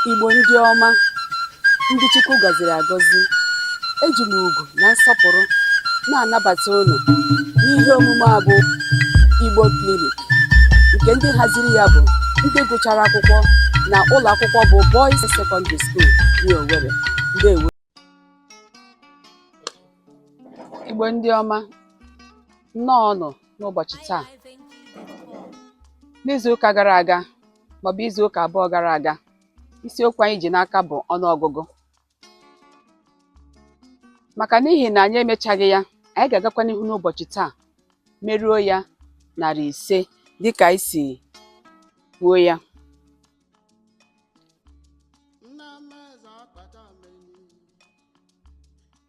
Igbo ndị ọma, ndị Chukwu gọziri agọzi, eji m ugwu na nsọpụrụ na-anabata unu n'ihe omume a bụ Igbo Clinic nke ndị haziri ya bụ ndị gụchara akwụkwọ na ụlọ akwụkwọ bụ Boys Secondary School New Owerri. Ndewo. Igbo ndị ọma, nnọọnụ n'ụbọchị taa n'izuụka gara aga maọbụ izuụka abụọ gara aga isiokwu anyị ji n'aka bụ ọnụọgụgụ maka n'ihi na anyị emechaghị ya anyị ga-agakwa n'ihu n'ụbọchị taa meruo ya narị ise dịka anyị si kwuo ya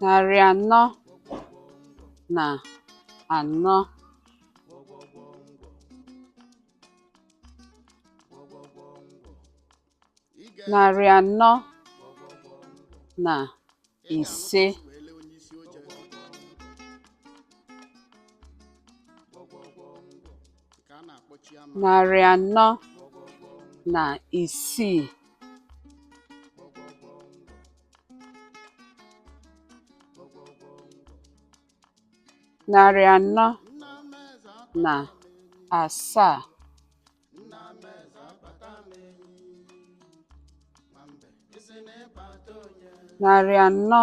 narị anọ na anọ narị anọ na ise narị anọ na isii narị anọ na asaa narị anọ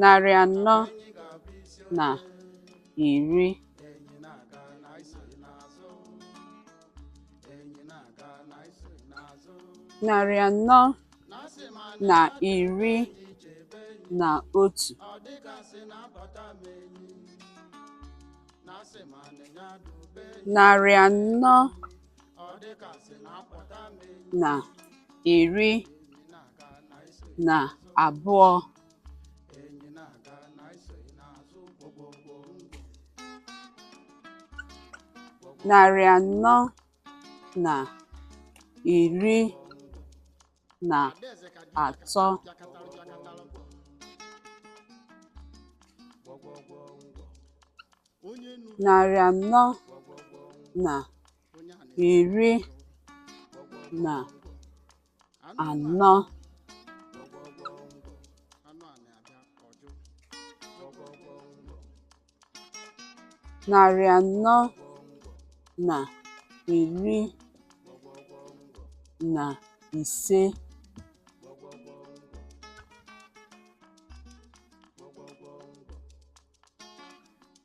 narị anọ na iri narị anọ na iri na otu narị anọ na iri na abụọ narị anọ na iri na atọ narị anọ na iri na anọ narị anọ na iri na ise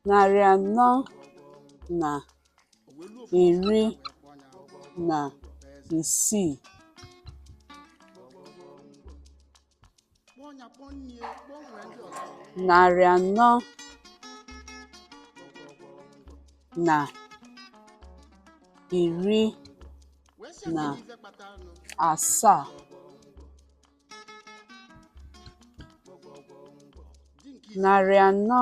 narị anọ na iri na isii narị anọ na iri na asaa narị anọ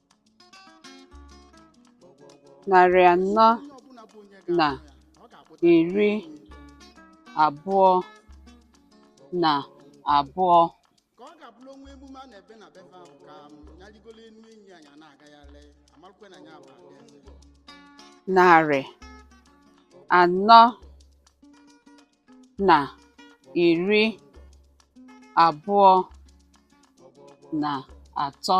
Narị anọ na iri abụọ na abụọ. Narị anọ na iri abụọ na atọ.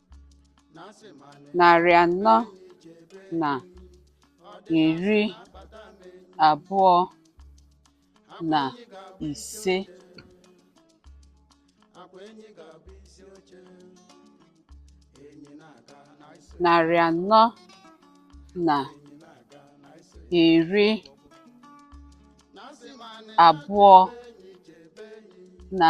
narị anọ na iri abụọ na ise narị anọ na iri abụọ na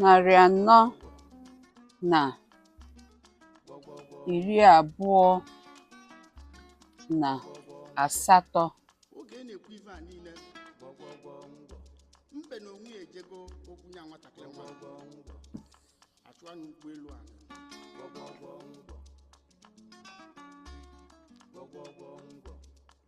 narị anọ na iri abụọ na asatọ oge ị na-ekwu ife a niile mbe na onwe ya ejego okwu nya nwatakịrị nwa achụ anya ụgbọelu a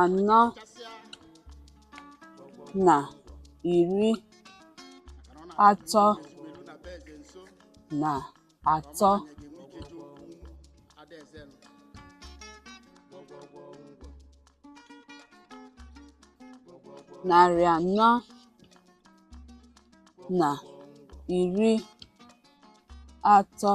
anọ na iri atọ na atọ narị anọ na iri atọ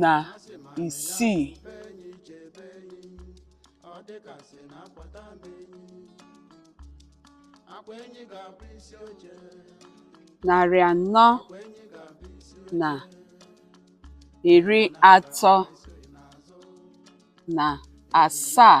na isii narị anọ na iri atọ na asaa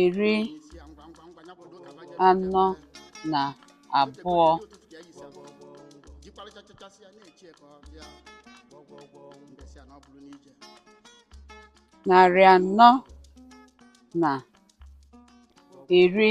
iri anọ na abụọ narị anọ na iri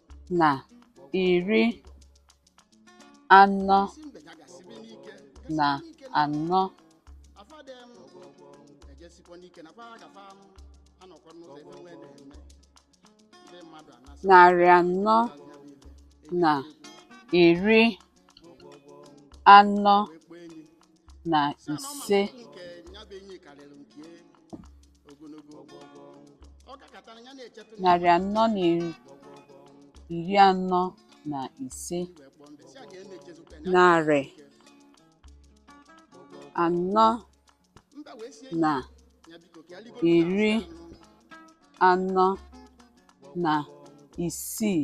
na iri anọ na anọ. Narị anọ na iri anọ na ise narị anọ na iri anọ na ise narị anọ na iri anọ na isii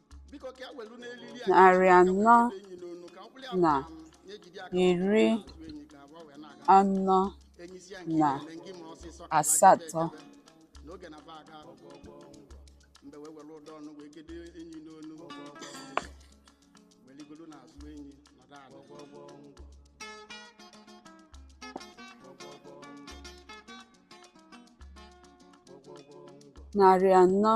narị anọ na iri anọ na asatọ narị anọ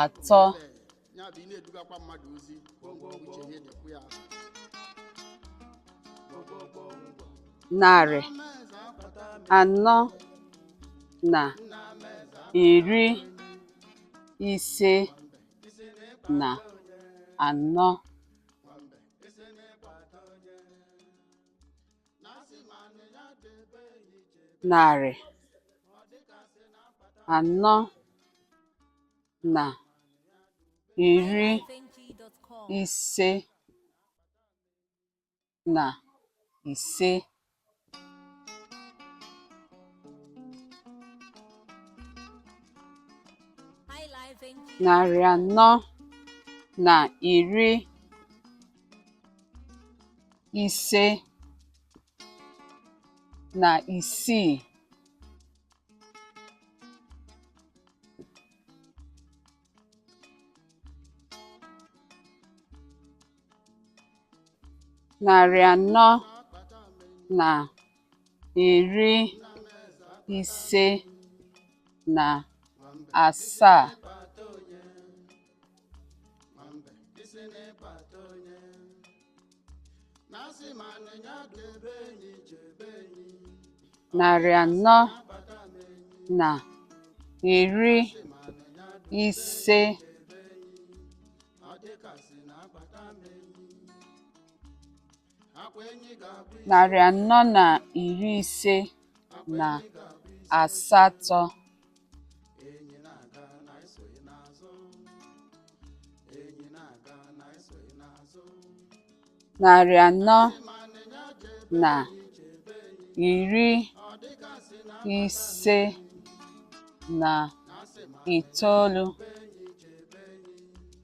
atọ narị anọ na iri ise na anọ narị anọ na iri ise na ise narị anọ na iri ise na isii narị anọ na iri ise na asaa nwambe isi n'ịkpata onye na-asị ma nịnya debe enyi jebe enyi narị anọ na iri ise ọ dịkasị na akpata m enyi narị anọ na iri ise na asatọ narị anọ na iri ise na itoolu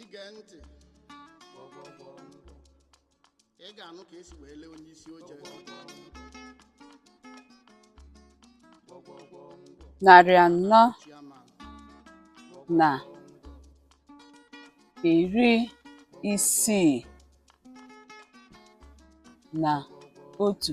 ige ntị ị ga-anụ ka esi wee lee onye isi oche narị anọ chairman na iri isii na otu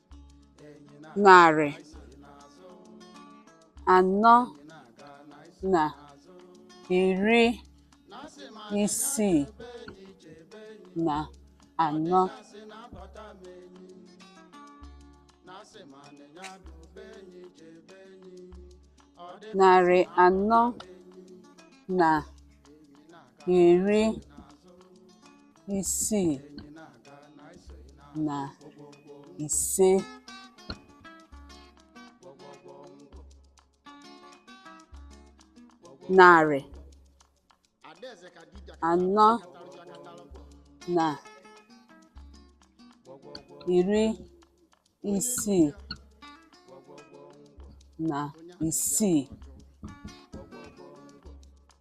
narị anọ na iri isii na anọ narị anọ na iri isii na ise narị anọ na iri isii na isii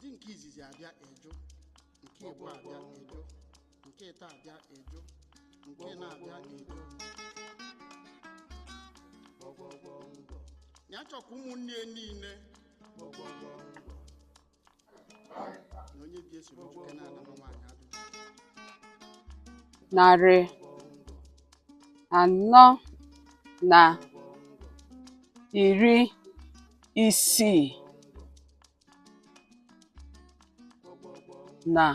di nke izizi abịa ajụ nke ịbụa abịa ajụ nke ịtọ abịa ajụ nke ịnọ abịa ajụ ya chọkwa ụmụnne ya niile narị anọ na iri isii na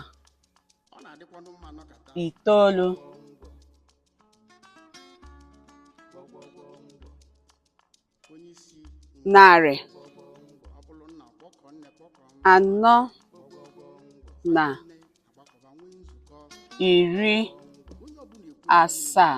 itoolu narị anọ na iri asaa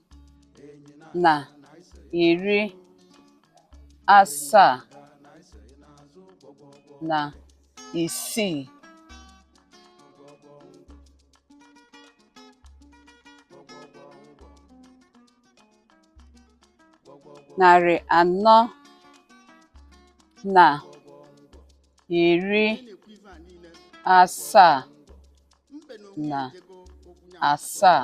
na iri asaa na isii narị anọ na iri asaa na asaa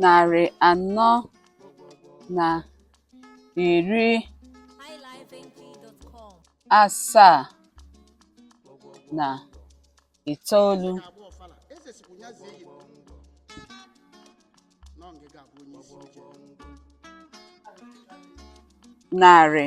narị anọ na iri asaa na itoolu narị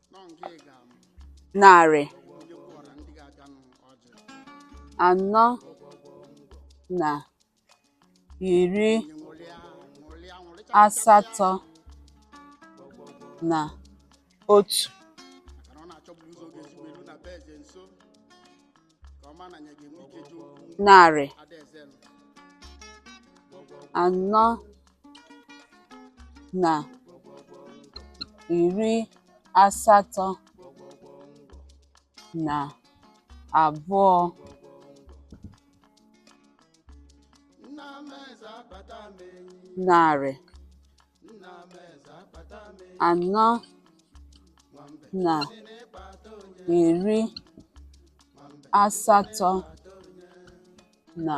narị anọ na iri asatọ na otu narị anọ na iri asatọ na abụọ narị anọ na iri asatọ na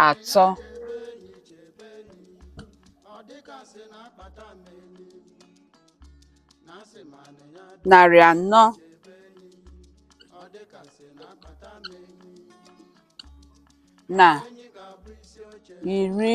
atọ narị anọ na iri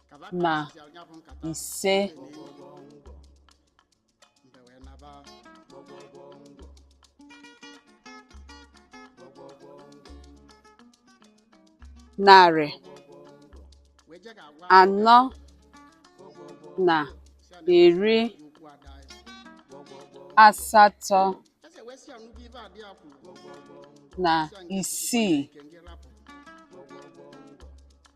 na ise narị anọ na iri asatọ na isii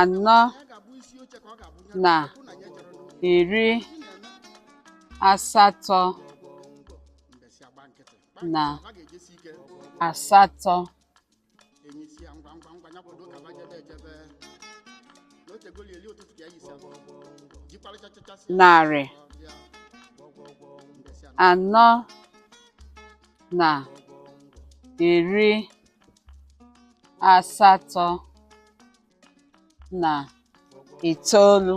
anọ na iri asatọ na asatọ narị anọ na iri asatọ na itoolu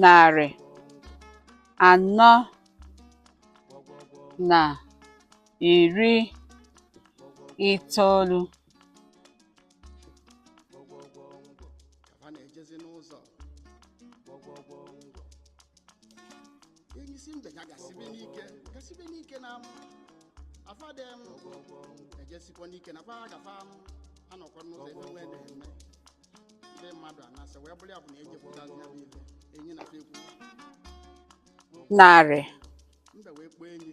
narị anọ na iri itoolu gwọgwọgwọ ngwọ ka fa na-ejezi n'ụzọ gwọgwọgwọ ngwọ enyi sị mbe ya gasibe n'ike gasibe n'ike na amụ afade m gwọgwọgwọ ngwọ ejesikwa n'ike na fa gafa amụ anọkwa n'ụzọ ebe nwee na-eme ndị mmadụ anasị wee bụrụ ya bụ na ejepụtazi ya bụ ife enyi na fa ekwu narị mbe wee kpọọ enyi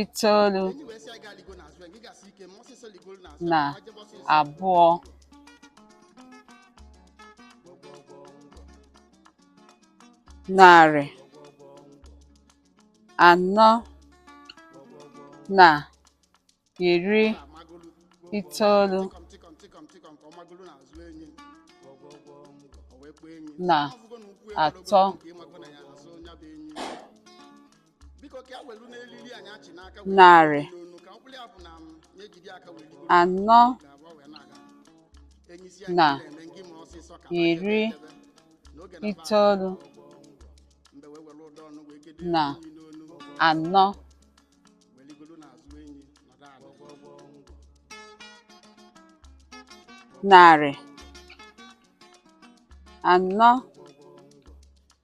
itoolu na abụọ narị anọ na iri itoolu na atọ narị anọ na iri itoolu na anọ narị anọ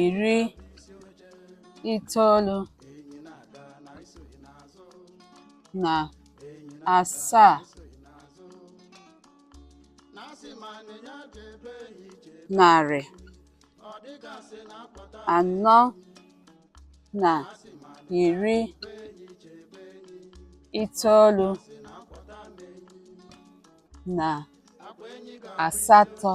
iri itoolu na asaa narị anọ na iri itoolu na asatọ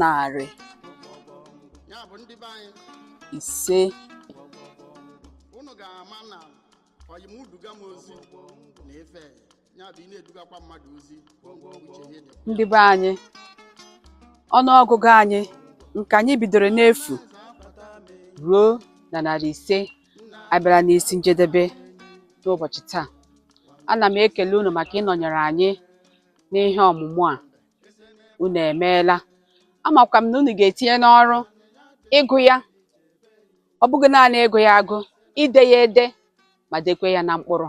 narị ise unu ga-ama na ọyịm uduga m ozi na efe ya bụ ị na-edugakwa mmadụ ozi uche ihe dị ndị be anyị ọnụọgụgụ anyị nke anyị bidoro n'efu ruo na narị ise abịara n'isi njedebe n'ụbọchị taa ana m ekele unu maka ịnọnyere anyị n'ihe ọmụmụ a unu emeela amakwa m na unu ga-etinye n'ọrụ ịgụ ya ọ bụghị naanị ịgụ ya agụ ide ya ede ma dekwe ya na mkpụrụ